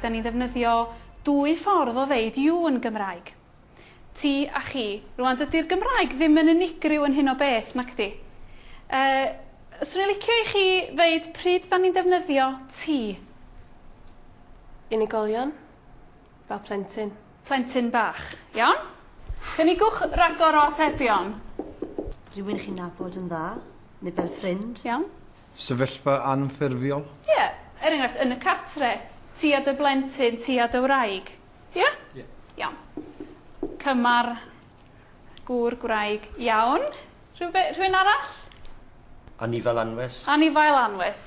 Da ni'n ddefnyddio dwy ffordd o ddeud you yn Gymraeg. Ti a chi. Rwan, dydy'r Gymraeg ddim yn unigryw yn hyn o beth, nac di? Uh, swn i'n licio i chi ddeud pryd da ni'n defnyddio ti. Unigolion. Fel plentyn. Plentyn bach. Iawn? Cynigwch ragor o atebion. Rhywun chi'n nabod yn dda, neu fel ffrind. Iawn. Sefyllfa anffurfiol. Ie, er enghraifft, yn y cartre, ti a dy blentyn, ti a dy wraig. Ie? Ie. Iawn. Cymar, gŵr, gwraig. Iawn. Rhywbe- rhywun arall? Anifail anwes. Anifail anwes.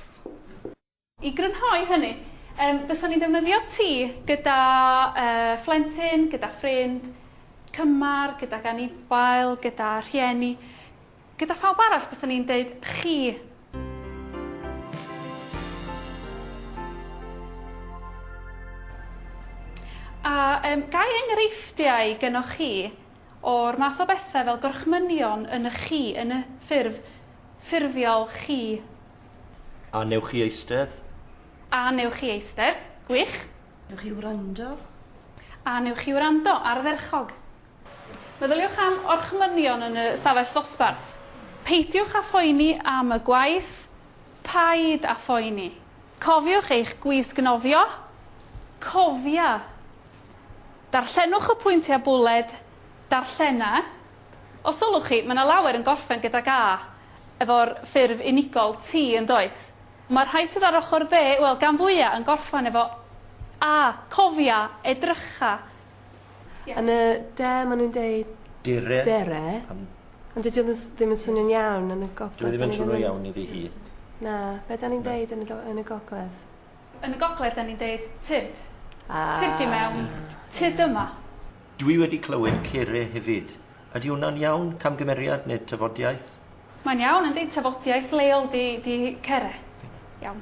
I grynhoi hynny, yym, fysan ni'n defnyddio ti gyda yy phlentyn, gyda ffrind, cymar, gydag anifail, gyda rhieni, gyda phawb arall fysan ni'n deud chi. A yym, ga i enghreifftiau gynnoch chi o'r math o bethe fel gorchmynion yn y chi, yn y ffurf ffurfiol chi? A newch chi eistedd? A newch chi eistedd? Gwych. Newch chi wrando? A newch chi wrando? Ardderchog. Meddyliwch am orchmynion yn y stafell ddosbarth. Peidiwch â phoeni am y gwaith. Paid â phoeni. Cofiwch eich gwisg nofio. Cofia. Darllenwch y pwyntiau bwled. Darllena. Os sylwch chi, mae 'na lawer yn gorffen gydag A efo'r ffurf unigol T, yn does? Mae'r rhai sydd ar ochr dde, wel, gan fwya' yn gorffen efo A. Cofia, edrycha. Yn y de ma' nhw'n deud... Dere. ...dere. Ond dydi o ddi- ddim yn swnio'n iawn yn y gogledd. Dyw e ddim yn swnio iawn iddi hi. Na. Be' 'dan ni'n deud yn y do- yn y gogledd? Yn y gogledd 'dan ni'n deud tyrd. Ah. Tyrd i mewn. Tyrd yma. Dwi wedi clywed Cere hefyd. Ydy hwnna'n iawn? Camgymeriad neu tafodiaith? Mae'n iawn, yndi, tafodiaith leol 'di Cere. Iawn.